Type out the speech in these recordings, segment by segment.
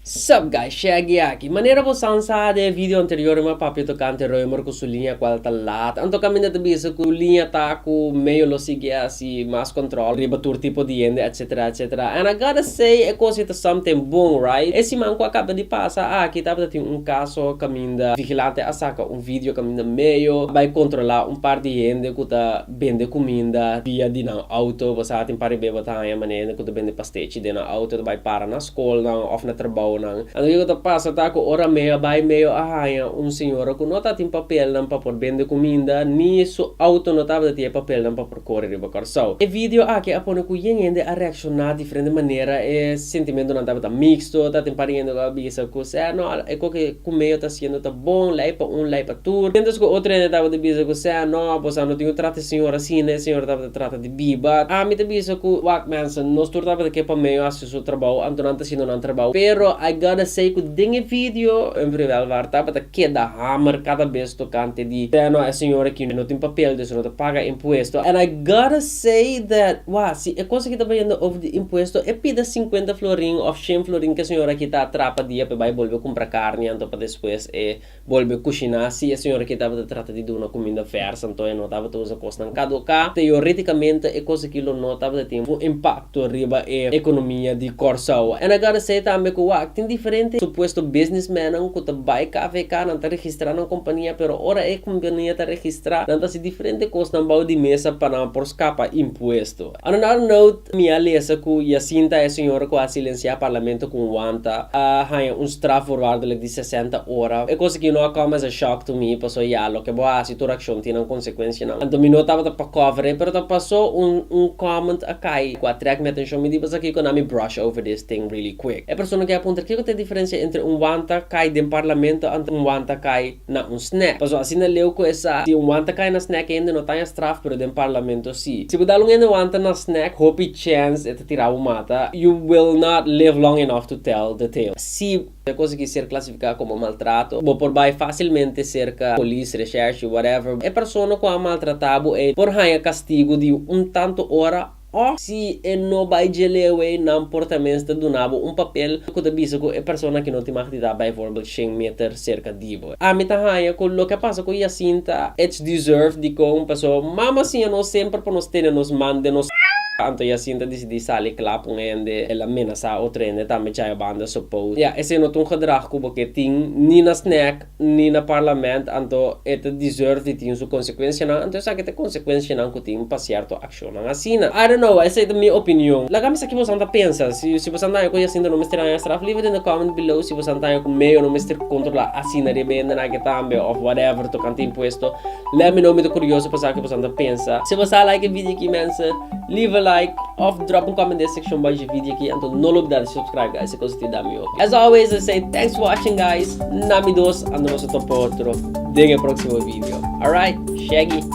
Sup guys, Shaggy aki. Manera bo san sa den e video anterior riba Papio Tocante Reumer ku su liña kual ta lat, anto kaminda ta bisa ku liña ta ku medio lo sigui asi mas control riba tur tipo di hende etc etc and I gotta say e kosa ei ta something bon right. E siman ku a kaba di pasa aki tabata tin un kaso kaminda vigilante a saka un video kaminda medio a bai kontrola un par di hende ku ta bende cuminda via di nan auto, bo sa tin pare beba ta haña manera cu ta bende pastechi den nan auto ta bay para na scolnan of na trabounan. Anto kico ta pasa ta cu ora medio a bay medio a haña un señora cu no ta tin papelnan pa por bende cuminda ni su auto no tabata tin e papelnan pa por core riba Corsou. E video aki a pone cu yen hende a reacciona Diferente manera e sentimentonan tabata mixto, taten par hende ku a bisa ku sea no e ku ke kume yo ta hasiendo ta bon, lei pa un, lei pa tur. Miéntras ku otro hende tabata bisa ku sea no bos a no tin un trata e señor asina, e señor tabata trata di biba. Ami ta bisa ku wak mense, nos tur tabata ke pa medio hasi su trabou, anto nan ta hasiendo nan trabou. Pero I gotta say ku den e video en Vrijwelvaart tabata keda hamer kada bes tokante di sea no e señor aki no tin papel di su no ta paga impuesto and I gotta Say that wha si e cosa aki ta bayendo over di impuesto e pida sinkuenta florin of shen florin ke señor aki ta atrapa dia pe bai bolbe kumpra karni anto pa despues e bolbe kushina si e señor aki tabata trata di duna kuminda fersa anto e no tabata usa kosnan kaduka teoreticamente e cosa aki lo no tabata tin un impacto impakto riba e ekonomia di Kòrsou. Ana Gade sey tambe ku wak tin diferente supuesto bisnismènnan ku ta bai KVK, nan ta registrá nan kompania pero ora e kompania ta registrá nan ta hasi diferente kosnan bou di mesa pa nan por skapa impuesto. Another note, mi a lesa ku Jacinta e señora ku a silensiá parlamento ku un wanta a haña un straf voorwaardelijk di sesenta ora. E kos aki no a kòm as a shock to me paso ya loke bo hasi. e tur akshon tin nan konsekuenshianan. Anto mi no tabata pa cover e pero ta paso un un comment a cay cu a track mi atencion mi di pasakico na mi brush over this ting really quick. E persona kia puntra kico ta e diferencia entre un wanta cay den parlamento anto un wanta cay na un snack. Paso asina leu cu esa si un wanta cay na snack e hende no taña straf pero den parlamento si. Si bo dal un hende wanta na snack hopi chance e ta tira bo mata you will not live long enough to tell the tale. Si E cos aki ser clasifica como maltrato. Bo por bay facilmente cerca polis, recherche, whatever. E persona cu a maltrata bo ey por haya castigo di un tanto ora of si e no bay dje lewe ey nan por ta mester duna bo un papel cu ta bisa cu e persona aki no tin mag di ta bijvoorbeeld shen meter cerca di bo. Ami ta haña cu loke a pasa cu Jacinta ets deserve di con paso mama siña nos semper pa nos tene nos man den nos ca. Anto Jacinta dicidi sali cla pa un hende, el a menasa otro hende tambe chaya banda so post. Ya esey no ta un gedrag cu bo ke tin ni na snack ni na parlament anto e ta deserve di tin su consecuencianan anto esaki ta e consecuencianan cu tin pa cierto accionnan. Shownan asina. I don't know, esei ta mi opinion. Laga mi sa ki bosan ta pensa. Si bosan ta haña ku Jacinto no mester haña straf. Leave it in the comment below si bosan ta haña ku Mayo no mester kontrola asina riba e hendenan aki tambe of whatever tokante impuesto. Let me know mi ta kurioso pa sa ki bosan ta pensa. Si bosa a like e video aki mense leave a like of drop un comment den e sekshon bajo e video aki anto no lo blida di subscribe guys e kosa tin da mi oke. As always I say thanks for watching guys na mi dos anto nos a topa otro den e proksimo video. Alright shaggy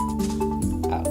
out.